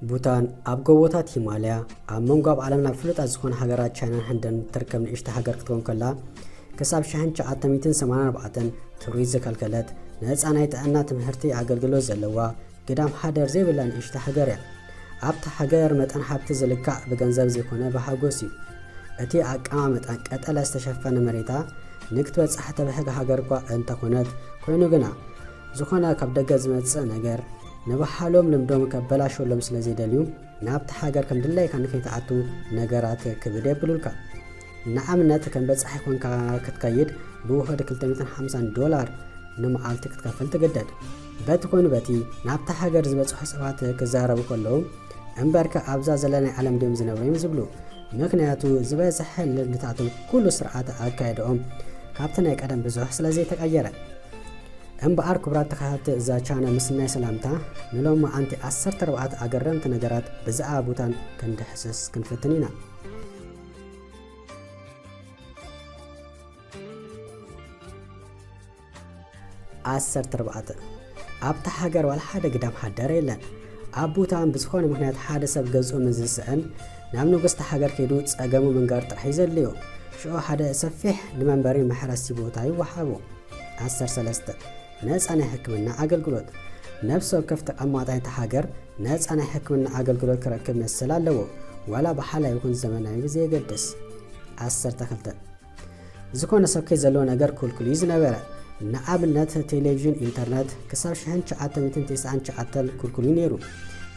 ቡታን ኣብ ጎቦታት ሂማልያ ኣብ መንጎ ኣብ ዓለምና ፍሉጣት ዝኾነ ሃገራት ቻይናን ህንድን እትርከብ ንእሽቲ ሃገር ክትከውን ከላ ክሳብ 1984 ቱሪስት ዘከልከለት ነፃ ናይ ጥዕና ትምህርቲ ኣገልግሎት ዘለዋ ግዳም ሓደር ዘይብላ ንእሽቶ ሃገር እያ። ኣብታ ሃገር መጠን ሃብቲ ዝልካዕ ብገንዘብ ዘይኮነ ብሃጎስ እዩ። እቲ ኣቀማምጣ ቀጠለ ዝተሸፈነ መሬታ ንክትበጽሕ ተብሕግ ሃገር'ኳ እንተኾነት፣ ኮይኑ ግና ዝኾነ ካብ ደገ ዝመጽእ ነገር ንባህሎም ልምዶም ከበላሽወሎም ስለ ዘይደልዩ ናብታ ሃገር ከም ድላይካ ንከይትኣቱ ነገራት ክብድ የብሉልካ። ንኣብነት ከም በጻሒ ኮንካ ክትከይድ ብውሑድ ክልተ ሚእትን ሓምሳን ዶላር ንመዓልቲ ክትከፍል ትግደድ። በቲ ኮኑ በቲ ናብታ ሃገር ዝበጽሑ ሰባት ክዛረቡ ከለዉ እምበርከ ኣብዛ ዘለናይ ዓለም ድዮም ዝነብሩ እዮም ዝብሉ። ምክንያቱ ዝበዝሐ ልምድታቶም ኩሉ ስርዓተ ኣካይድኦም ካብቲ ናይ ቀደም ብዙሕ ስለ ዘይተቀየረ። እምበኣር ክቡራት ተኸታተልቲ እዛ ቻነል ምስናይ ሰላምታ ንሎሚ ኣንቲ ዓሰርተ ኣርባዕተ ኣገረምቲ ነገራት ብዛዕባ ቡታን ክንድሕስስ ክንፍትን ኢና። ዓሰርተ ኣርባዕተ፣ ኣብታ ሃገር ዋላ ሓደ ግዳም ሓዳር የለን። ኣብ ቡታን ብዝኾነ ምኽንያት ሓደ ሰብ ገዝኡ ምስ ዝስእን ናብ ንጉስ'ታ ሃገር ከይዱ ጸገሙ ምንጋር ጥራሕ እዩ ዘድልዮ። ሽዑ ሓደ ሰፊሕ ንመንበሪ መሕረሲ ቦታ ይወሃቦ። ዓሰርተ ሰለስተ፣ ነጻ ናይ ሕክምና ኣገልግሎት፣ ነፍሲ ወከፍ ተቐማጣይ እታ ሃገር ነጻ ናይ ሕክምና ኣገልግሎት ክረክብ መሰል ኣለዎ፣ ዋላ ብሓላይ ይኹን ዘመናዊ ብዘየገድስ። ዓሰርተ ክልተ፣ ዝኾነ ሰብ ከይዘለዎ ነገር ክልኩል እዩ ዝነበረ። ንኣብነት ቴሌቪዥን፣ ኢንተርነት ክሳብ ሽሕን ትሽዓተ ሚእትን ተስዓን ትሽዓተን ክልኩል እዩ ነይሩ።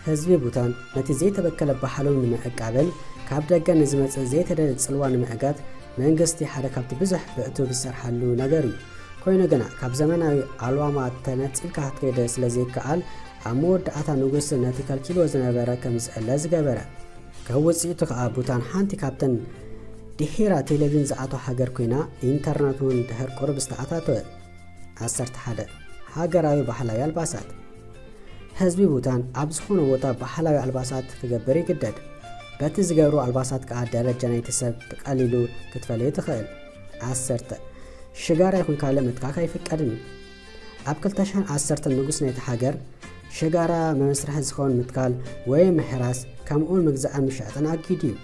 ህዝቢ ቡታን ነቲ ዘይተበከለ ባህሉ ንምዕቃብን ካብ ደገ ንዝመጽእ ዘይተደልየ ጽልዋ ንምዕጋት መንግስቲ ሓደ ካብቲ ብዙሕ ብዕቱብ ዝሰርሓሉ ነገር እዩ። ኮይኑ ግና ካብ ዘመናዊ ኣልዋማ ተነጺልካ ክትከይድ ስለዘይከኣል ኣብ መወዳእታ ንጉስ ነቲ ከልኪልዎ ዝነበረ ከምዝእለ ዝገበረ። ካብ ውጽኢቱ ከኣ ቡታን ሓንቲ ካብተን ድሒራ ቴሌቪን ዝኣቶ ሃገር ኮይና ኢንተርነት እውን ድሕር ቁርብ ዝተኣታተወ። ዓሰርተ ሓደ ሃገራዊ ባህላዊ ኣልባሳት ህዝቢ ቡታን ኣብ ዝኾነ ቦታ ባህላዊ ኣልባሳት ክገብር ይግደድ። በቲ ዝገብሩ ኣልባሳት ከኣ ደረጃ ናይቲ ሰብ ብቀሊሉ ክትፈልዮ ትኽእል። ዓሰርተ ሽጋራ ይኹን ካልእ ምትካኽ ኣይፍቀድን እዩ። ኣብ ክልተ ሽሕን ዓሰርተን ንጉስ ናይቲ ሃገር ሸጋራ መመስርሒ ዝኸውን ምትካል ወይ ምሕራስ ከምኡውን ምግዛእን ምሻጥን ኣጊዱ እዩ።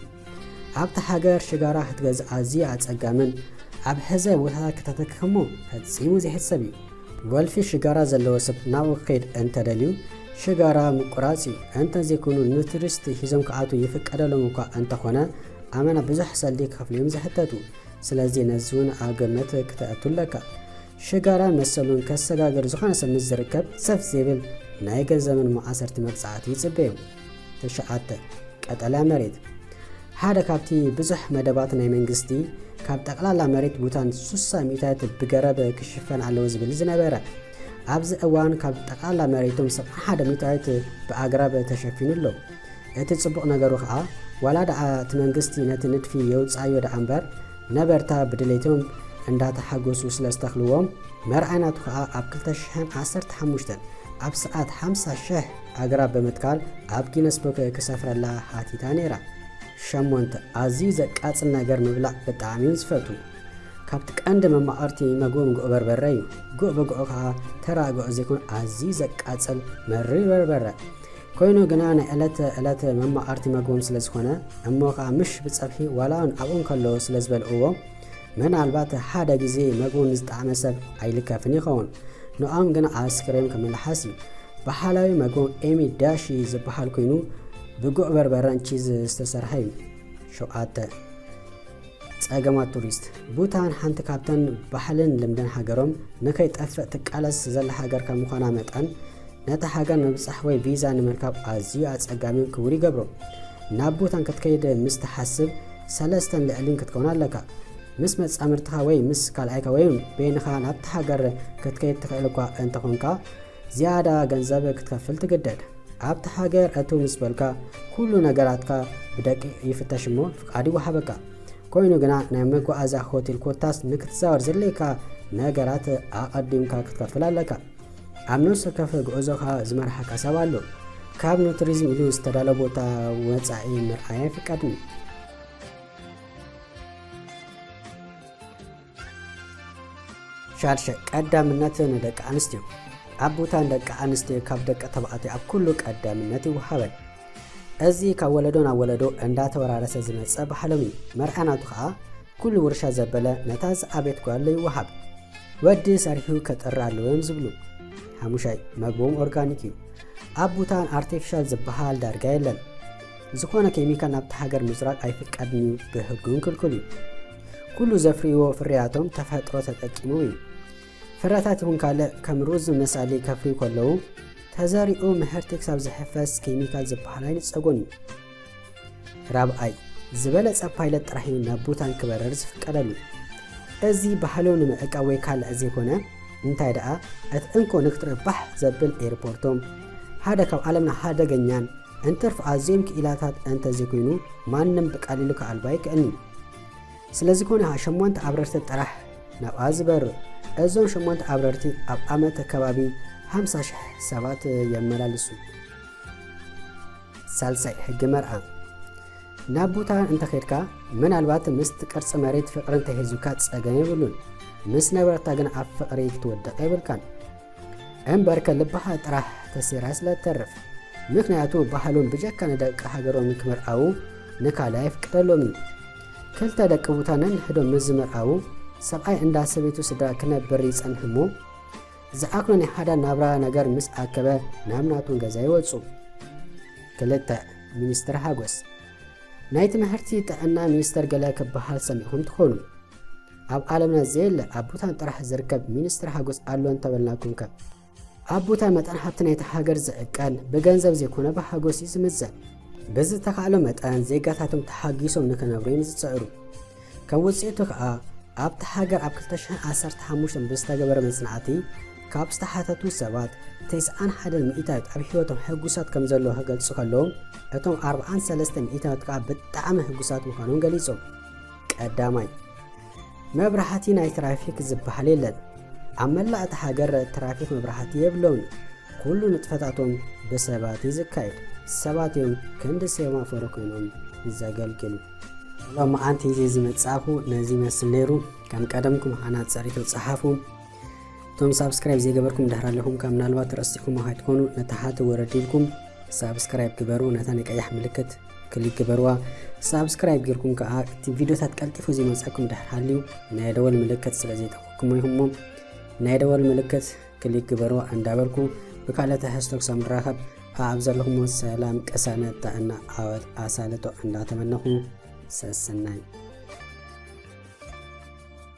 ኣብታ ሃገር ሽጋራ ክትገዝእ ኣዝዩ ኣጸጋምን ኣብ ሕዘ ቦታታት ክተተክክሞ ፈጺሙ ዘይሕሰብ እዩ። ወልፊ ሽጋራ ዘለዎ ሰብ ናብኡ ክኸይድ እንተደልዩ ሽጋራ ምቁራጽ እዩ። እንተዘይኮይኑ ንቱሪስት ሒዞም ክኣትዉ ይፍቀደሎም እኳ እንተኾነ ኣመና ብዙሕ ሰልዲ ክኸፍሉ እዮም ዝሕተቱ። ስለዚ ነዚ እውን ኣብ ግምት ክተእቱ ኣለካ። ሽጋራ መሰሉን ከሰጋግር ዝኾነ ሰብ ምስ ዝርከብ ሰፍ ዘይብል ናይ ገንዘብን መኣሰርቲ መቅጻዕቲ ይጽበዩ። ትሽዓተ፣ ቀጠልያ መሬት ሓደ ካብቲ ብዙሕ መደባት ናይ መንግስቲ ካብ ጠቕላላ መሬት ቡታን ሱሳ ሚእታይት ብገረብ ክሽፈን ኣለዎ ዝብል ዝነበረ ኣብዚ እዋን ካብ ጠቕላላ መሬቶም ሰብ ሓደ ሚእታይት ብኣግራብ ተሸፊኑ ኣሎ። እቲ ጽቡቕ ነገሩ ከኣ ዋላ ደኣ እቲ መንግስቲ ነቲ ንድፊ የውጽኣዮ ደኣ እምበር ነበርታ ብድሌቶም እንዳተሓጎሱ ስለ ዝተኽልዎም መርዓይ ናቱ ከኣ ኣብ ክልተ ሽሕን ዓሰርተ ሓሙሽተን ኣብ ሰዓት ሓምሳ ሽሕ ኣግራብ ብምትካል ኣብ ጊነስ ቡክ ክሰፍረላ ሓቲታ ነይራ። ሸሞንተ ኣዝዩ ዘቃጽል ነገር ምብላዕ ብጣዕሚ ዝፈቱ። ካብቲ ቀንዲ መማቕርቲ መግቦም ጉዕ በርበረ እዩ። ጉዕ ብጉዑ ከኣ ተራ ጉዕ ዘይኮን ኣዝዩ ዘቃጽል መሪር በርበረ። ኮይኑ ግና ናይ ዕለት ዕለት መማቐርቲ መግቦም ስለ ዝኾነ እሞ ከኣ ምሽ ብጸብሒ ዋላውን ኣብኡ እንከለዉ ስለ ዝበልዕዎ ምናልባት ሓደ ግዜ መግቡ ንዝጠዓመ ሰብ ኣይልከፍን ይኸውን። ንኦም ግና ኣስክሬም ክምልሓስ እዩ። ባህላዊ መግቦም ኤሚ ዳሺ ዝበሃል ኮይኑ ብጉዕ በርበረን ቺዝ ዝተሰርሐ እዩ። ሸውዓተ ጸገማት ቱሪስት ቡታን ሓንቲ ካብተን ባህልን ልምድን ሃገሮም ንከይጠፍእ ትቃለስ ዘላ ሃገር ከም ምዃና መጠን ነታ ሃገር ንምብጻሕ ወይ ቪዛ ንምርካብ ኣዝዩ ኣጸጋሚን ክቡር ይገብሮ። ናብ ቡታን ክትከይድ ምስ ትሓስብ ሰለስተን ልዕሊን ክትከውን ኣለካ። ምስ መጻምድትኻ ወይ ምስ ካልኣይካ ወይ በይንኻ ናብታ ሃገር ክትከይድ ትኽእል እኳ እንተኾንካ፣ ዝያዳ ገንዘብ ክትከፍል ትግደድ። ኣብቲ ሃገር እትው ምስ በልካ ኩሉ ነገራትካ ብደቂቕ ይፍተሽ እሞ ፍቃድ ይወሃበካ። ኮይኑ ግና ናይ መጓዓዝያ ሆቴል ኮታስ ንክትዛወር ዘድልየካ ነገራት ኣቐዲምካ ክትከፍል ኣለካ። ኣብ ነፍሲ ወከፍ ጉዕዞኻ ዝመርሓካ ሰብ ኣሎ። ካብ ንቱሪዝም ኢሉ ዝተዳለ ቦታ ወፃኢ ምርኣይ ኣይፍቀድን። ሻድሸ፣ ቀዳምነት ንደቂ ኣንስትዮ። ኣብ ቦታ ንደቂ ኣንስትዮ ካብ ደቂ ተባዕትዮ ኣብ ኩሉ ቀዳምነት ይወሃበን። እዚ ካብ ወለዶ ናብ ወለዶ እንዳተወራረሰ ዝመጸ ባህሎም እዩ። መርዓ ናቱ ከኣ ኩሉ ውርሻ ዘበለ ነታ ዝኣቤት ጓል ይወሃብ። ወዲ ሰሪሑ ከጥሪ ኣለዎ እዮም ዝብሉ። ሓሙሻይ፣ መግቦም ኦርጋኒክ እዩ። ኣብ ቡታን ኣርቲፊሻል ዝበሃል ዳርጋ የለን። ዝኾነ ኬሚካል ናብቲ ሃገር ምዝራግ ኣይፍቀድን እዩ፣ ብህጉን ክልኩል እዩ። ኩሉ ዘፍርይዎ ፍርያቶም ተፈጥሮ ተጠቂሙ እዩ። ፍረታት ይኹን ካልእ ከም ሩዝ ዝመሳሊ ከፍርዩ ከለዉ ተዘሪኡ ምህርቲ ክሳብ ዝሕፈስ ኬሚካል ዝበሃል ኣይንጸጉን እዩ። ራብዓይ፣ ዝበለጸ ፓይለት ጥራሕ እዩ ናብ ቡታን ክበረር ዝፍቀደሉ። እዚ ባህሉ ንምዕቃብ ወይ ካልዕ ዘይኮነ እንታይ ደኣ እቲ እንኮ ንክትረባሕ ዘብል ኤርፖርቶም ሓደ ካብ ዓለምና ሃደገኛን እንትርፍ ኣዝዮም ክኢላታት እንተ ዘይኮይኑ ማንም ብቀሊሉ ክኣልቦ ኣይክእልን'ዩ። ስለዝኮነ ሸሞንተ ኣብረርቲ ጥራሕ ናብኣ ዝበሩ። እዞም ሸሞንተ ኣብረርቲ ኣብ ኣመት ከባቢ ሃምሳ ሽሕ ሰባት የመላልሱ። ሳልሳይ ሕጊ መርኣ ናብ ቡታን እንተኼድካ ምናልባት ምስቲ ቅርጺ መሬት ፍቕሪ እንተሒዙካ ጸገም የብሉን። ምስ ነበረታ ግን ኣብ ፍቕሪ ክትወድቕ የብልካን። እምበር ከልብኻ ጥራሕ ተሲራ ስለ ትተርፍ ምክንያቱ ባህሎም ብጀካ ንደቂ ሃገሮም ክምርዓዉ ንካልእ ኣይፍቀደሎምን ክልተ ደቂ ቡታ ነንሕዶም ምስ ዝምርዓዉ ሰብኣይ እንዳ ሰበይቱ ስድራ ክነብር ይጸንሕ እሞ ዝዓግኖ ናይ ሓዳር ናብራ ነገር ምስ ኣከበ ናብ ናቱን ገዛ ይወጹ ክልተ ሚኒስትር ሃጎስ ናይ ትምህርቲ ጥዕና ሚኒስተር ገለ ክበሃል ሰሚዕኹም ትኾኑ ኣብ ዓለምና ዘየለ ኣብ ቡታን ጥራሕ ዝርከብ ሚኒስትሪ ሓጎስ ኣሎ እንተበልናኩምከ? ኣብ ቡታን መጠን ሃብቲ ናይታ ሃገር ዝዕቀን ብገንዘብ ዘይኮነ ብሓጎስ እዩ ዝምዘን። ብዝተኻእሎ መጠን ዜጋታቶም ተሓጊሶም ንክነብሩ እዮም ዝጽዕሩ። ከም ውጽኢቱ ከኣ ኣብታ ሃገር ኣብ ክልተ ሽሕን ዓሰርተ ሓሙሽተን ብዝተገበረ መጽናዕቲ ካብ ዝተሓተቱ ሰባት ተስዓን ሓደን ሚእታዊት ኣብ ህይወቶም ሕጉሳት ከም ዘለዎ ክገልጹ ከለዉ እቶም ኣርብዓን ሰለስተ ሚእታዊት ከኣ ብጣዕሚ ሕጉሳት ምዃኖም ገሊጾም። ቀዳማይ፣ መብራህቲ ናይ ትራፊክ ዝበሃል የለን። ኣብ መላእ እታ ሃገር ትራፊክ መብራህቲ የብሎምን እዩ። ኩሉ ንጥፈታቶም ብሰባት እዩ ዝካየድ። ሰባት እዮም ክንዲ ሴማፎሮ ኮይኖም ዘገልግሉ። ሎማዓንቲ ይዜ ዝመጻእኹ ነዚ ይመስል ነይሩ። ከም ቀደምኩም ሃናጽ ርእይቶ ጸሓፉ። እቶም ሳብስክራይብ ዘይገበርኩም ድሕር ኣለኹም ካብ ምናልባት ረሲዕኩሞ ካይትኮኑ ነታ ሃተ ወረድ ኢልኩም ሳብስክራይብ ግበሩ ነታ ናይ ቀያሕ ምልክት ክሊክ ግበርዋ ሳብስክራይብ ጌርኩም ከዓ እቲ ቪድዮታት ቀልጢፉ ዘይመፀኩም ድሕር ሃልዩ ናይ ደወል ምልክት ስለ ዘይጠቅኩሞ ኢኹም እሞ ናይ ደወል ምልክት ክሊክ ግበርዋ እንዳበልኩ ብካልእ ትሕዝቶ ክሳብ ንራኸብ ኣብ ዘለኹሞ ሰላም ቅሳነት ጥዕና ዓወት ኣሳልጦ እንዳተመነኹ ሰሰናይ